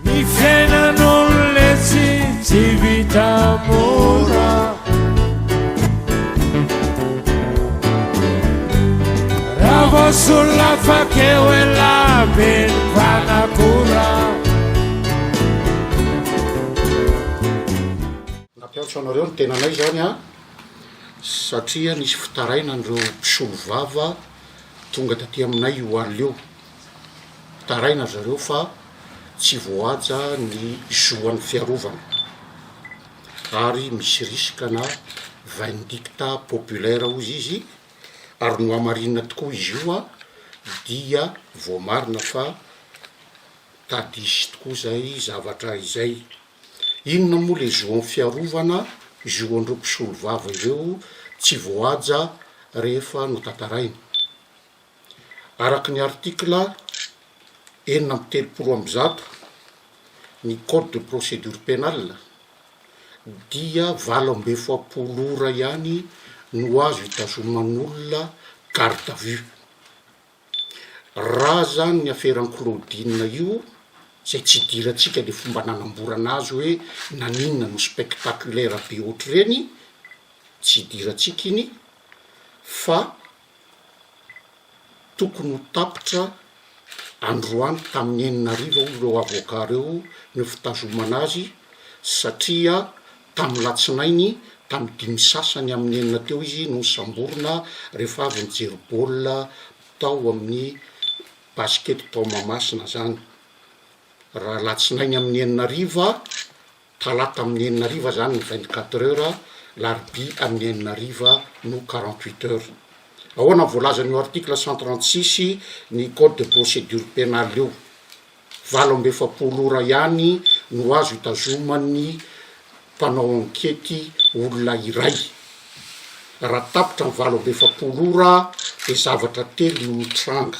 Ny fiainan'olona tsy tsy vita mora Raha vao solona fakeo ela be ny fanakora Nampiantso anareo ny tenanay izany an, satria nisy fitarainana ireo mpisolovava tonga taty aminay io alina io. Taraina zareo fa tsy voahaja ny zo an'ny fiarovana ary misy riskana vindicta populaire hozy izy ary nohamarinina tokoa izy io an dia voamarina fa tadisy tokoa izay zavatra izay. Inona moa le zo an'ny fiarovana, zo an'ireo mpisolovava ireo tsy voahaja rehefa notantaraina? Araka ny article enina amby telopolo amby zato ny code de procédure pénale dia valo amby efapolo ora ihany no azo itazoman'olona garde à vue. Raha zany ny aferan'i Claudine io, zay tsy idirantsika le fomba nanamborana azy hoe naninona no spectaculaire be ohatr'ireny, tsy idirantsika iny fa. Tokony ho tapitra androany tamin'ny enina hariva hoy ireo avoka ireo ny fitazomana azy satria tamin'ny latsinainy tamin'ny dimy sy sasany amin'ny enina teo izy no nosamborina rehefa avy nijery baolina tao amin'ny Basket tao Mahamasina izany. Raha alatsinainy amin'ny enina hariva, Talata amin'ny enina hariva izany ny vingt quatre heures, larobia amin'ny enina hariva no quarante huit heures. Ahoana ny voalazany eo article cent trente six ny code de procédure pénale eo? Valo amby efapolo ora ihany no azo itazoman'ny mpanao ankety olona iray. Raha tapitra ny valo amby efapolo ora dia zavatra telo no mitranga.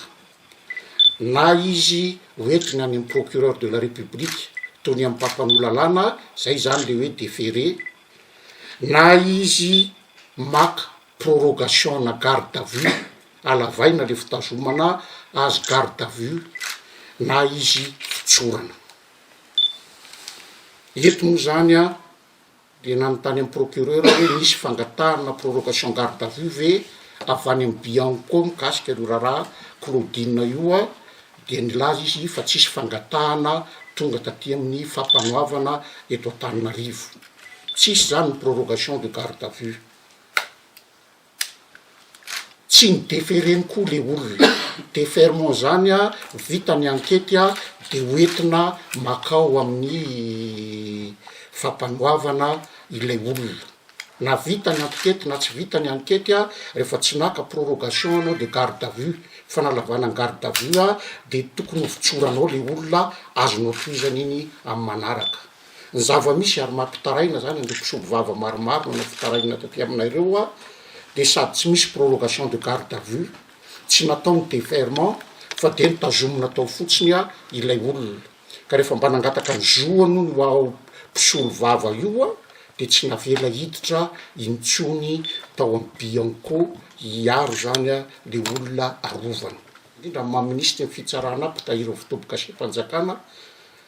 na izy hoentina any amin'ny procureur de la République toy ny amin'ny mpampanoa lalàna, izay izany ilay hoe déféré, na izy maka prorogation-na garde à vue, halavaina ilay fitazomana azy garde à vue, na izy fitsorana. Eto moa izany an! dia nanontany amin'ny procureur aho hoe nisy fangatahana prorogation garde à vue ve avy any amin'ny Bianco mikasika an'io raharaha Claudine io aho dia nilaza izy fa tsisy fangatahana tonga taty amin'ny Fampanoavana eto Antananarivo. Tsisy izany ny prorogation de garde à vue. Tsy ny defereny koa le olona, deferment zany a vita ny ankety a de ho entina makao amin'ny fampanoavana ilay olona, na vita ny ankety na tsy vita ny ankety a refa tsy naka prorogation anao de garde à vue, fanalavana ny garde à vue a de tokony ho fitsoranao le olona azonao tohizana iny amin'ny manaraka. ny zava-misy ary mampitaraina zany an'ireo mpisolo vava maromaro nanao fitarainana taty amina ireo aho dia sady tsy misy prorogation de garde à vue tsy natao ny deferment fa dia nitazomina tao fotsiny aho ilay olona ka rehefa mba nangataka ny zo aloha ny ho aho mpisolo vava io aho dia tsy navela hiditra intsony tao amin'ny bianco hiaro zany aho le olona arovana indrindra ny maha minisitry ny fitsarana mpitahiry ny fitobi-kaseha-panjakana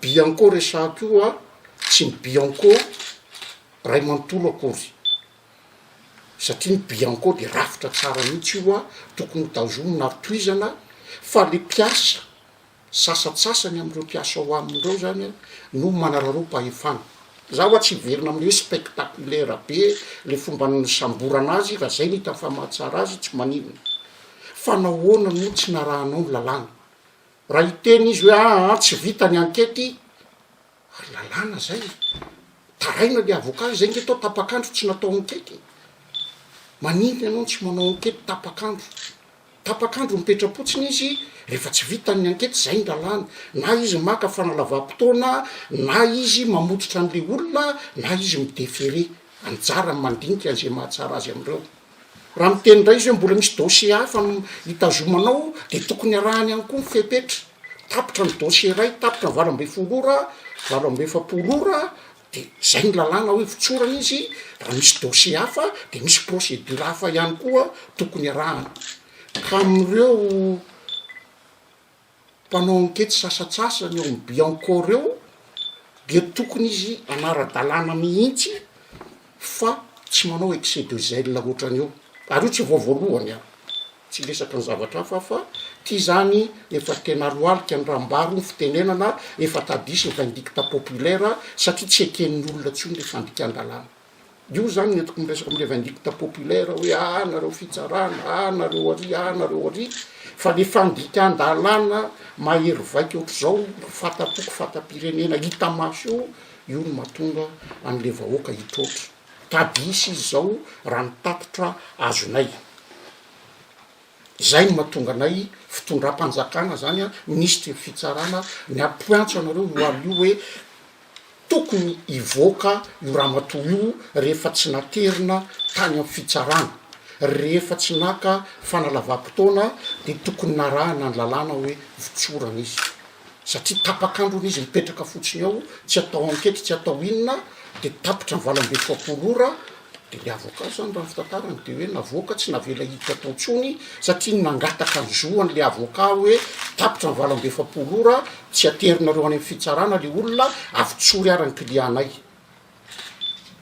Bianco resahiko io a, tsy ny Bianco ray manontolo akory, satria ny Bianco dia rafitra tsara mihitsy io a, tokony ho tazomina ary tohizana, fa le mpiasa, sasatsasany amin'ireo mpiasa ao aminy ireo zany a, no manararaom-pahefana. Za oa tsy hiverina amin'ny hoe spectaculaire be le fomba nisamborana azy, raha zay no hitan'ny famaha tsara azy, tsy maninona, fa nahoana no tsy narahanao ny lalàna? Raha hiteny izy hoe aa tsy vita ny ankety ary lalàna zay e, taraina le avocat zay nge tao tapak'andro tsy natao ankety e, maninona ianao no tsy manao ankety tapak'andro, tapak'andro mipetra-potsiny izy rehefa tsy vita ny ankety zay ny lalàna, na izy maka fanalavam-potoana na izy mamototra an'le olona na izy mi-deferer, anjarany mandinika an'izay mahatsara azy am'ireo. Raha miteny indray izy hoe mbola misy dossier hafa hitazomanao dia tokony arahany ihany koa ny fepetra. Tapitra ny dossier iray, tapitra ny valo ambin'ny folo ora, valo amby efapolo ora dia izay ny lalàna hoe votsorana izy, raha misy dossier hafa dia misy procédure hafa ihany koa tokony arahana. Ka amin'ireo. mpanao ankety sasatsasany ao amin'ny Biancore ao dia tokony izy hanara-dalàna mihitsy fa tsy manao excès de zèle ohatrany io. Ary io tsy vao voalohany an! Tsy hiresaka ny zavatra hafa aho fa ity izany efa tena lohalika ny raha mibaro ny fitenenana efa tadiso ny vindicte populaire satria tsy eken'ny olona intsony ilay fandikan-dalàna. Io zany ny entiko miresaka am revindicte populaire hoe ah nareo fitsarana ah nareo ary ah nareo ary fa le fandikan-dalàna mahery vaika ohatr'izao fata-poko fata-pirenena hita maso io io no mahatonga an'le vahoaka hitroatra tady hisy izy zao raha ny tatitra azonay Izay no mahatonga anay fitondram-panjakana izany an, minisitry ny fitsarana, ny hampiantso anareo mialoha hoe tokony hivoaka io ramatoa io rehefa tsy naterina tany amin'ny fitsarana, rehefa tsy naka fanalavam-potoana dia tokony narahana ny lalàna hoe votsorana izy. satria tapak'andro hono izy mipetraka fotsiny ao, tsy atao enquête tsy atao inona de tapitra ny valo amby efapolo ora de le avocat zany raha ny fitantarany de hoe navoaka tsy navela hiditra tao intsony satria nangataka ny zoany le avocat hoe tapitra ny valo amby efapolo ora tsy aterinareo any amin'ny fitsarana le olona avy tsory ary ny client-nay.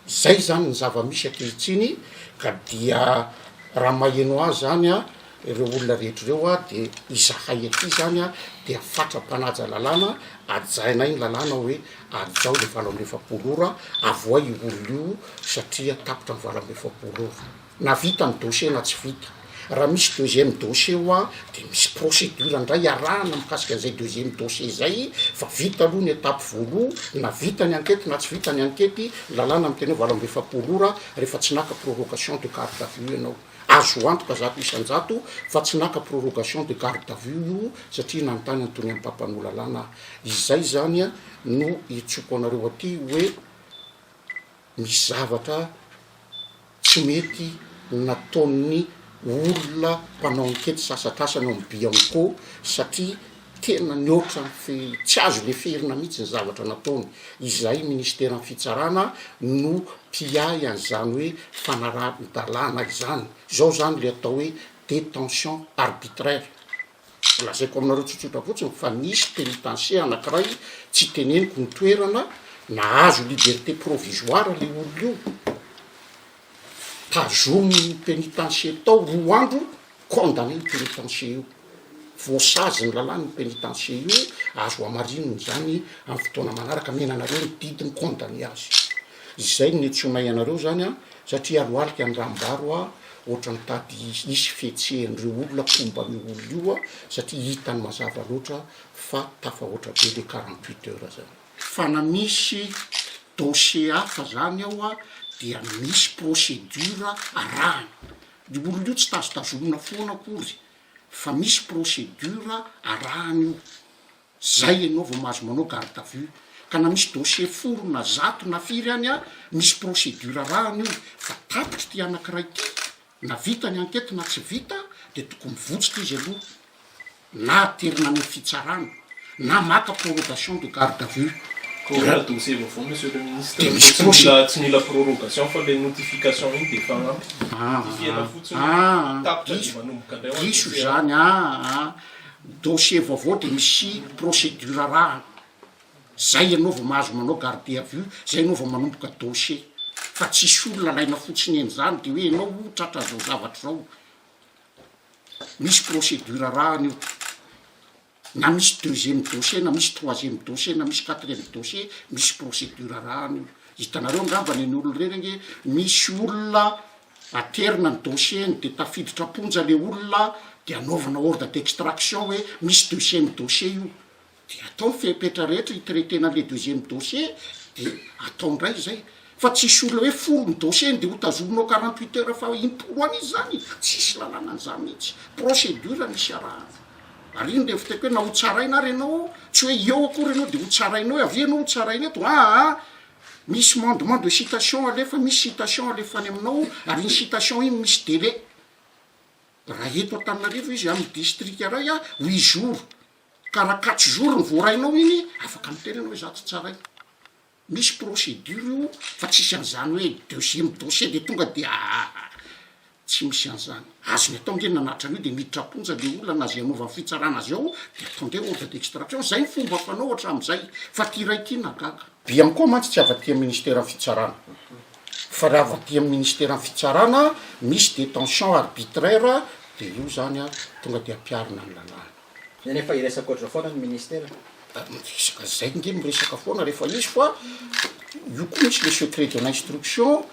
Izay izany ny zava-misy ankehitriny ka dia raha maheno ahy izany a, ireo olona rehetra ireo a, dia izahay aty izany a, dia fatra-panaja lalàna, hajainay ny lalàna hoe hajao ilay valo amby efapolo ora, avohay io olona io satria tapitra ny valo amby efapolo ora. Na vita ny dossier na tsy vita. Raha misy deuxième dossier hoa dia misy procédure indray iarahana mikasika an'izay deuxième dossier izay fa vita aloha ny étape voaloha na vita ny ankety na tsy vita ny ankety, ny lalàna miteny hoe valo amby efapolo ora rehefa tsy naka prorogation de garde à vue ianao. Azo antoka zato isan-jato fa tsy naka prorogation de garde à vue io satria nanontany an'itony mpampanoa lalàna aho. Izay izany no iantsoako anareo aty hoe. Misy zavatra tsy mety nataon'ny olona mpanao ankety sasatrasany ao amin'ny Bianco satria tena nihoatra ny fe, tsy azo leferina mihitsy ny zavatra nataony. Izahay Ministeran'ny Fitsarana no mpiahy an'izany hoe fanarahan-dalàna izany. Izao izany ilay atao hoe détention arbitraire. Tsy lazaiko aminareo tsotsotra fotsiny fa nisy pénitencier anakiray tsy teneniko ny toerana nahazo liberté provisoire le olona io tazominy pénitencier tao roa andro condamné io pénitencier io voasazy ny lalàna io pénitencier io azo hamarinina izany amin'ny fotoana manaraka mena anareo ny didiny condamné azy izay no niantsonay anareo zany an satria alohalika ny raha mibaro aho Ohatra ny tady hisy fihetsehan'ireo olona mpomba an'io olona io a, satria hitany mazava loatra fa tafahoatra be le quarante huit heures zany. Fa na misy dossier hafa zany ao a, dia misy procédure arahana. Io olona io tsy tazotazomina foana akory fa misy procédure arahana io. Zay ianao vao mahazo manao garde à vue ka na misy dossier folo na zato na firy any a misy procédure arahana io fa tapitra ity anakiray ity na vita ny enquête na tsy vita de tokony mivotsitra izy aloha na aterina any am fitsarana na maka prorogation de garde à vue Koa dossier vaovao monsieur le ministre de misy procédure tsy mila prorogation fa le notification iny de efa ampy notifihana fotsiny hoe tapitra de manomboka indray ho any dossier a. Diso zany aa Ny dossier vaovao dia misy procédure arahana, zay ianao vao mahazo manao garde à vue, zay ianao vao manomboka dossier, fa tsisy olona alaina fotsiny eny zany de hoe ianao o tratra zao zavatra zao, misy procédure arahana io, na misy deuxième dossier na misy troisième dossier na misy quatrième dossier misy procédure arahana io, hitanareo angambany eny olona reny ange misy olona Aterina ny dossier ny dia tafiditra am-ponja le olona dia anaovana ordre d'extraction hoe misy deuxième dossier io dia atao ny fepetra rehetra hi-traiter-na an'ilay deuxième dossier dia atao indray izay fa tsy hisy olona hoe folo ny dossier-ny dia hotazominao quarante huit heures fa impolo an'izy izany tsisy lalàna an'izany mihitsy procédure misy iarahana ary iny dia fiteko hoe na hotsaraina ary ianao tsy hoe eo akory ianao dia hotsarainao avy eo ianao hotsaraina eto aa Misy mandement de citation alefa, misy citation alefa any aminao, ary iny citation iny misy délai. Raha eto Antananarivo izy amin'ny distrika iray a, huit jours, ka raha quatre jours no voarainao iny, afaka miteny ianao hoe za tsy tsaraiko. Misy procédure io fa tsisy an'izany hoe deuxième dossier de tonga de Tsy misy an'izany. Azony atao nge nanattra an'io de miditra am-ponja le olona na ze anaovan'ny fitsarana azy ao de atao nge ordre d'extraction. Zay ny fomba fanao hatramin'izay fa ty ray ty nagaga. Bianco mantsy tsy avy aty amin'ny ministeran'ny fitsarana fa raha avy aty amin'ny ministeran'ny fitsarana misy detention arbitraire de io zany a tonga de ampiarina ny lalàna. Eny efa hiresaka ohatr'izao foana ny ministera. Miresaka zay nge miresaka foana rehefa izy fa io koa misy le secret de l'instruction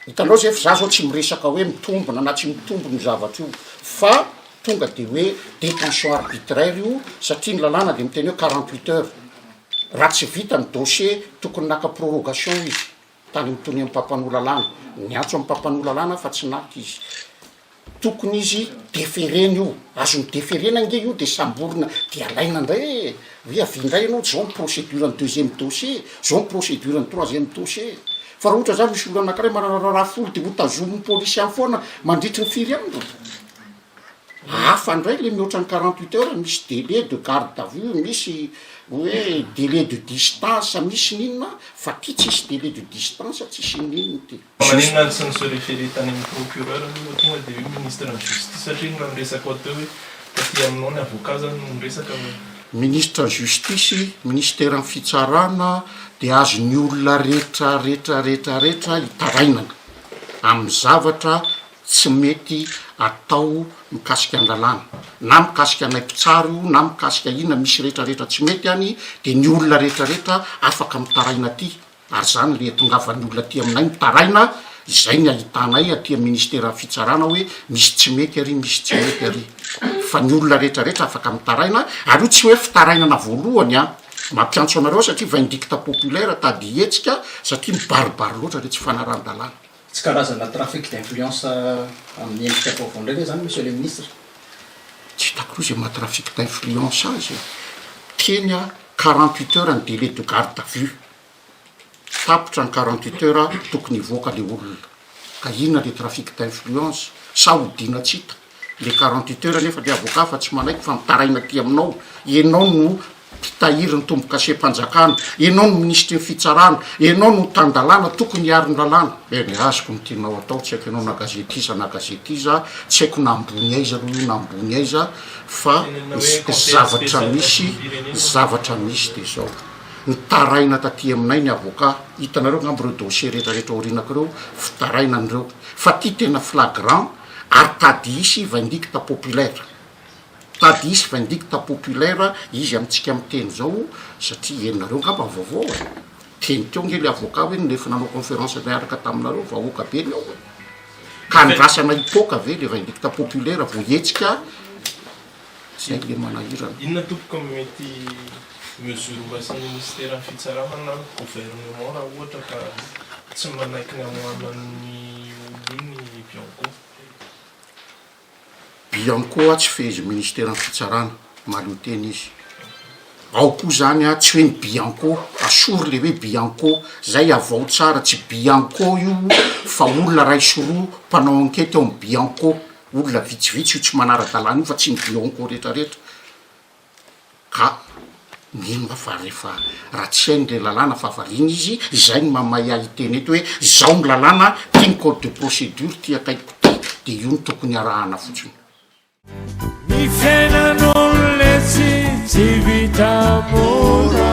Hitanao zay f'zah zao tsy miresaka hoe mitombona na tsy mitombona io zavatra io fa tonga de hoe detention arbitraire io satria ny lalàna de miteny hoe quarante huit heures raha tsy vita ny dossier tokony naka prorogation izy tany am'tony am'mpampanoa lalàna, niantso am'mpampanoa lalàna fa tsy naka izy. Tokony izy deferena io, azony deferena ange io de samborina de alaina indray e! hoe avia indray ianao zao ny procédure ny deuxième dossier, zao ny procédure ny troisième dossier, fa raha ohatra zany misy olona anakiray manararaha folo de hotazomin'ny polisy any foana mandritry ny firy andro, hafa indray le mihoatra ny quarante huit heures, misy délai de garde à vue, misy hoe délai de distance, misy ny inona fa ty tsisy délai de distance, tsisy inona inona ty. Maninona ary tsy ni se referer tany amin'ny procureur aloha vao tonga dia hoe ministre ny justice satria ny raha miresaka ao teo hoe taty aminao ny avocat izany no miresaka fa Ministre ny justice, ministeran'ny fitsarana dia azon'ny olona rehetra rehetra rehetra rehetra itarainana amin'ny zavatra tsy mety atao mikasika an-dalàna na mikasika anay mpitsara io na mikasika inona misy rehetra rehetra tsy mety any dia ny olona rehetra rehetra afaka mitaraina aty Ary izany ilay itongavan'ny olona aty aminay mitaraina, izay ny ahitanay aty amin'ny Ministeran'ny Fitsarana hoe misy tsy mety ary misy tsy mety ary. Fa ny olona rehetra rehetra afaka mitaraina, ary io tsy hoe fitarainana voalohany an! Mampiantso anareo aho satria vindicte populaire, tady hetsika, satria mibaribary loatra ilay tsy fanarahan-dalàna. Tsy karazana trafic d'influence amin'ny endrika vaovao indray ve izany, Monsieur le Ministre? Tsy hitako koa izay maha trafic d'influence azy e! Teny aho, quarante huit heures ny délai de garde à vue. Tapitra ny quarante huit heures, tokony hivoaka ilay olona. Ka inona ilay trafic d'influence? Sa odiana tsy hita? le quarante huit heures nefa le avocat fa tsy manaiky fa mitaraina aty aminao enao no mpitahiry ny tombokasem-panjakana enao no minisitry ny fitsarana enao no tan-dalàna tokony hiaro ny lalàna e ny azoko ny tianao atao tsy haiko enao na gazety iza na gazety iza tsy haiko na ambony aiza aloha io na ambony aiza fa zavatra misy zavatra misy de zao mitaraina taty aminay ny avocat hitanareo angamba ireo dossier rehetrarehetra aorianakireo fitaraina an'ireo fa ty tena flagrant Ary tady hisy vindicte populaire, tady hisy vindicte populaire izy amintsika miteny zao satria ianareo angamba vaovao e! teny teo nge le avocat hoe nefa nanao conférence niaraka taminareo vahoaka be ny ao e! ka andrasana hipoka ve le vindicte populaire vao hetsika tsy hay le manahirana. Inona tompoko no mety mesure horaisiny minisiteran'ny fitsarana na ny gouvernement raha ohatra ka tsy manaiky ny hamoahana an'iny olona iny i Bianco? Bianco a tsy fehezin'ny minisiteran'ny fitsarana, mahaleo tena izy, ao koa zany a tsy hoe ny Bianco, asory le hoe Bianco zay avao tsara, tsy Bianco io fa olona ray sy roa mpanao enquete ao amin'ny Bianco. Olona vitsivitsy io tsy manara-dalàna io fa tsy ny Blanco retraretra ka mino aho fa rehefa raha tsy hainy le lalàna fa variana izy izay no maha mahay ahy hiteny eto hoe izao ny lalàna ty ny code de procédure ty akaikiko ty de io no tokony arahana fotsiny. Ny fiainan'olo letsy tsy vita mora.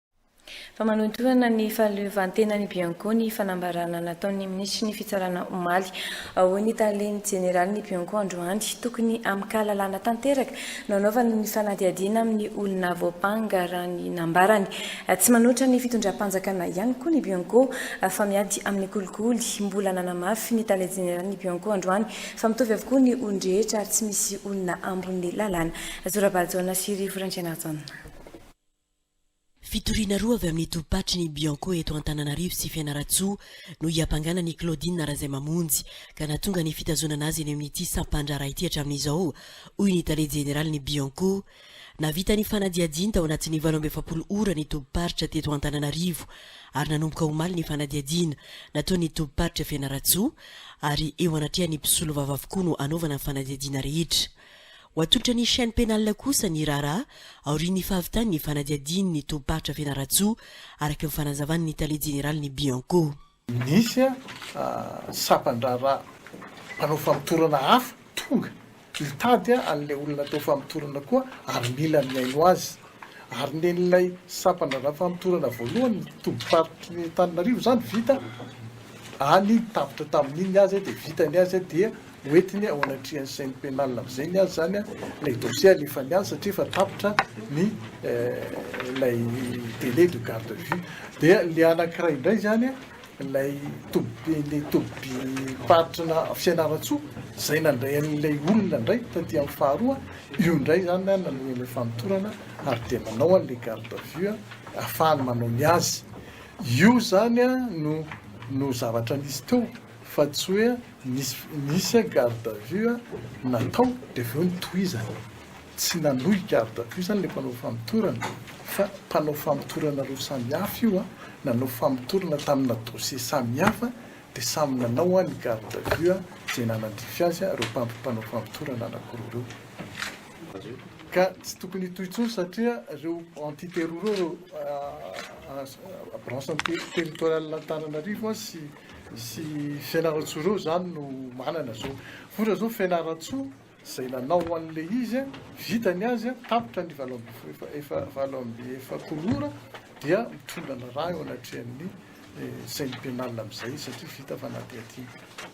Fa manotorana ny fahaleovantenan'ny Bianco ny fanambarana nataon'ny minisitry ny Fitsarana omaly. Hoy ny tale ny jeneralin'ny Bianco androany, tokony amin-kahalalana tanteraka no anaovana ny fanadihadiana amin'ny olona voampanga raha ny nambarany. Tsy manohitra ny fitondram-panjakana ihany koa ny Bianco fa miady amin'ny kolikoly. Mbola nanamafy ny tale jeneralin'ny Bianco androany fa mitovy avokoa ny olon-drehetra ary tsy misy olona ambon'ny lalàna. Zorabary Jaona sy Rivo Randrianarison. Fitoriana roa avy amin'ny tobim-paritry ny Bianco eto Antananarivo sy Fianarantsoa no hiampangana an'i Claudine Razaimamonjy ka nahatonga ny fitazonana azy eny amin'ity sampan-draharaha ity hatramin'izao, hoy ny tale jeneralin'ny Bianco. Nahavita ny fanadihadiany tao anatin'ny valo amby efapolo ora ny tobim-paritra teto Antananarivo ary nanomboka omaly ny fanadihadiana nataon'ny tobim-paritra Fianarantsoa ary eo anatrehan'ny mpisolovava avokoa no hanaovana ny fanadihadiana rehetra. Ho atolotran'ny chaîne pénale kosa ny raharaha aorian'ny fahavitan'ny fanadihadian'ny tobim-paritra Fianarantsoa, araka ny fanazavan'ny tale jeneralin'ny Bianco. Nisy sampan-draharaha mpanao famotorana hafa tonga hitady an'ilay olona natao famotorana koa ary mila mihaino azy. Ary nen'ilay sampan-draharaha famotorana voalohany tobim-paritry Antananarivo izany vita any tapitra tamin'iny ny azy dia vita ny azy dia hoentiny ao anatrehan'ny chaine pénale amin'izay ny azy izany ilay dossier alefany any satria efa tapitra ny ilay délai de garde à vue. Dia ilay anankiray indray izany ilay toby ilay tobim-paritry na Fianarantsoa izay nandray an'ilay olona indray taty amin'ny faharoa, io indray izany nanohy ilay famotorana ary dia manao an'ilay garde à vue ahafahany manao ny azy. Io izany no no zavatra nisy teo. Fa tsy hoe nisy nisy a garde à vue natao dia avy eo notohizana. Tsy nanohy garde à vue zany ilay mpanao famotorana fa mpanao famotorana roa samihafa io a, nanao famotorana tamina dossier samihafa dia samy nanao a ny garde à vue izay nanandrify azy a ireo mpanao famotorana anakiroa ireo. Ka tsy tokony hitohy intsony satria ireo entités roa ireo a branche territoriale Antananarivo a sy. Misy Fianarantsoa roa zany no manana zao. Ohatra zao Fianarantsoa zay nanao anle izy a, vita ny azy a, tapitra ny valo amby efa efa valo amby efapolo ora dia mitondra ny rà eo anatrehan'ny chaine penale amzay satria vita fanadihadiana.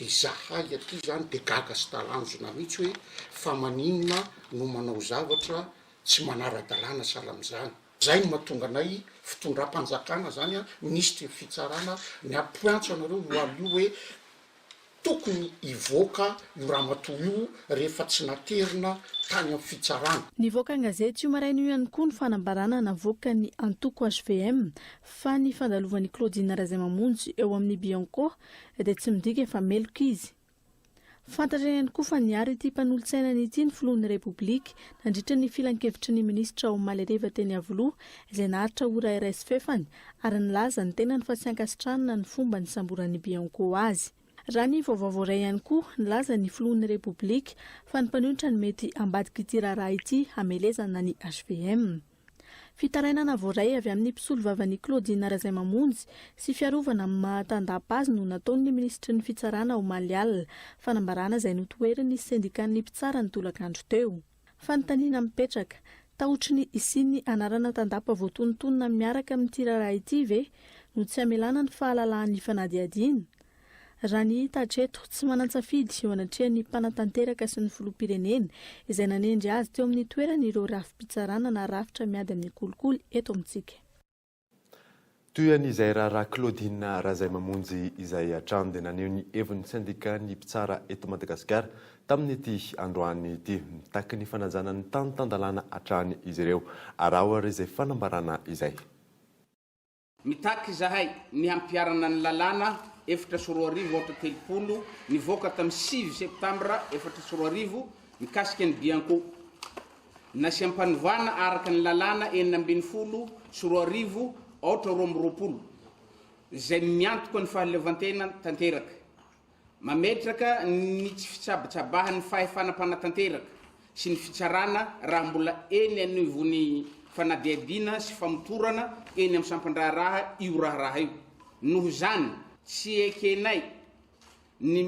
Izahay aty izany dia gaga sy talanjona mihitsy hoe fa maninona no manao zavatra tsy manara-dalàna sahala amin'izany. Izay no mahatonga anay fitondram-panjakana izany an, minisitry ny fitsarana, miapointsa anareo loaly io hoe tokony hivoaka io ramatoa io rehefa tsy naterina tany amin'ny fitsarana. Nivoaka an-gazety io maraina io ihany koa ny fanambarana navoakan'ny antoko hvm fa ny fandalovan'i Claudine Razaimamonjy eo amin'ny Bianco dia tsy midika fa meloka izy. Fantatra ihany koa fa niaro ity mpanolotsainany ity ny filohan'ny Repoblika nandritra ny filankevitry ny minisitra omaly hariva teny Iavoloha izay naharitra ora iray sy fahefany ary nilaza ny tenany fa tsy ankasitrahana ny fomba nisamboran'ny Bianco azy. Raha ny vaovao voaray ihany koa, nilaza ny filohan'ny Repoblika fa ny mpanohitra no mety ambadik'ity raharaha ity hamelezana ny hvm. Fitarainana voaray avy amin'ny mpisolovavan'i Claudine Razaimamonjy sy fiarovana amin'ny maha tandapa azy no nataon'ny minisitry ny Fitsarana omaly alina, fanambarana izay notoherin'ny sendikan'ny mpitsara ny tolakandro teo. Fanontaniana mipetraka, tahotry ny hisian'ny anarana tandapa voatonontonona miaraka amin'ity raharaha ity ve no tsy hamelana ny fahalalahan'ny fanadihadiana? Raha ny hita hatreto, tsy manan-tsafidy eo anatrehan'ny mpanatanteraka sy ny filoham-pirenena, izay nanendry azy teo amin'ny toerany ireo rafi-pitsarana na rafitra miady amin'ny kolikoly eto amintsika. Toy an'izay raharaha Claudine Razaimamonjy izay hatrany dia naneho ny heviny sendika ny mpitsara eto Madagasikara tamin'ity androany ity. Mitaky ny fanajana ny tany tan-dalàna hatrany izy ireo, araho ary izay fanambarana izay. Mitaky izahay ny hampiharana ny lalàna efatra sy roa arivo aotra telopolo nivoaka tamin'ny sivy septambra efatra sy roa arivo mikasika ny bianco. Nasiam-panovana araka ny lalàna enina ambin'ny folo sy roa arivo aotra roa amby roapolo izay miantoka ny fahaleovantena tanteraka Mametraka ny tsy fitsabotsabahan'ny fahefana mpanatanteraka sy ny fitsarana raha mbola eny anivon'ny fanadihadiana sy famotorana eny amin'ny sampan-draharaha io raharaha io. Noho izany, tsy ekenay ny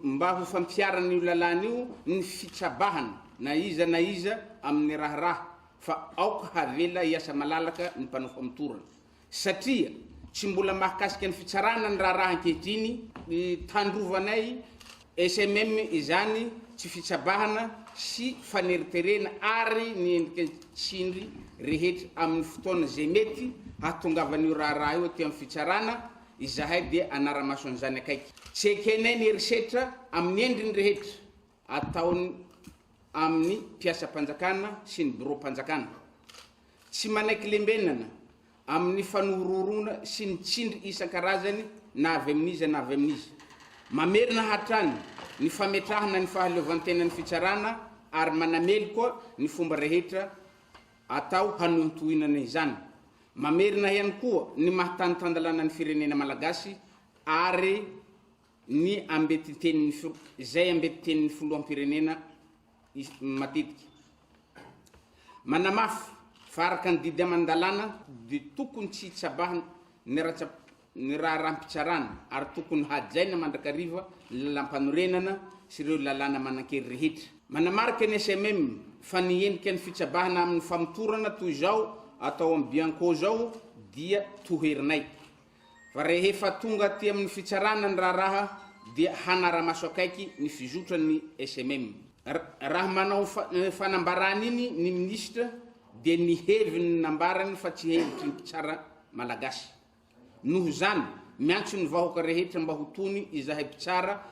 mba ho fampiharan'io lalàna io ny fitsabahana na iza na iza amin'ny raharaha fa aoka havela hiasa malalaka ny mpanao famotorana. Satria tsy mbola mahakasika ny fitsarana ny raharaha ankehitriny, hitandrovanay SMM izany tsy fitsabahana sy faneriterena ary ny endrika tsindry rehetra amin'ny fotoana izay mety hahatongavan'io raharaha io aty amin'ny fitsarana, izahay dia hanara-maso an'izany akaiky. Tsy ekenay ny herisetra amin'ny endriny rehetra ataony amin'ny mpiasam-panjakana sy ny biraom-panjakana. Tsy manaiky lembenana amin'ny fanohorohoroana sy ny tsindry isan-karazany na avy amin'iza na avy amin'iza. Mamerina hatrany ny fametrahana ny fahaleovantenan'ny fitsarana ary manameloka ny fomba rehetra atao hanohintohinana izany. Mamerina ihany koa ny maha tany tan-dalanan'ny firenena malagasy ary ny ambetitenin'ny izay ambetitenin'ny Filoham-pirenena, matetika. Manamafy fa araka ny didy aman-dalàna dia tokony tsy hitsabaha ny raharaham-pitsarana ary tokony hajaina mandrakariva ny lalàmpanorenana sy ireo lalàna manan-kery rehetra. Manamarika ny SMM fa ny endrika ny fitsabahana amin'ny famotorana toy izao atao amin'ny Bianco izao dia toherinay. fa rehefa tonga aty amin'ny fitsarana ny raharaha dia hanara-maso akaiky ny fizotran'ny SMM. Raha manao fanambarana iny ny minisitra dia ny heviny nambarany fa tsy hevitry ny mpitsara malagasy. Noho izany, miantso ny vahoka rehetra mba ho tony izahay mpitsara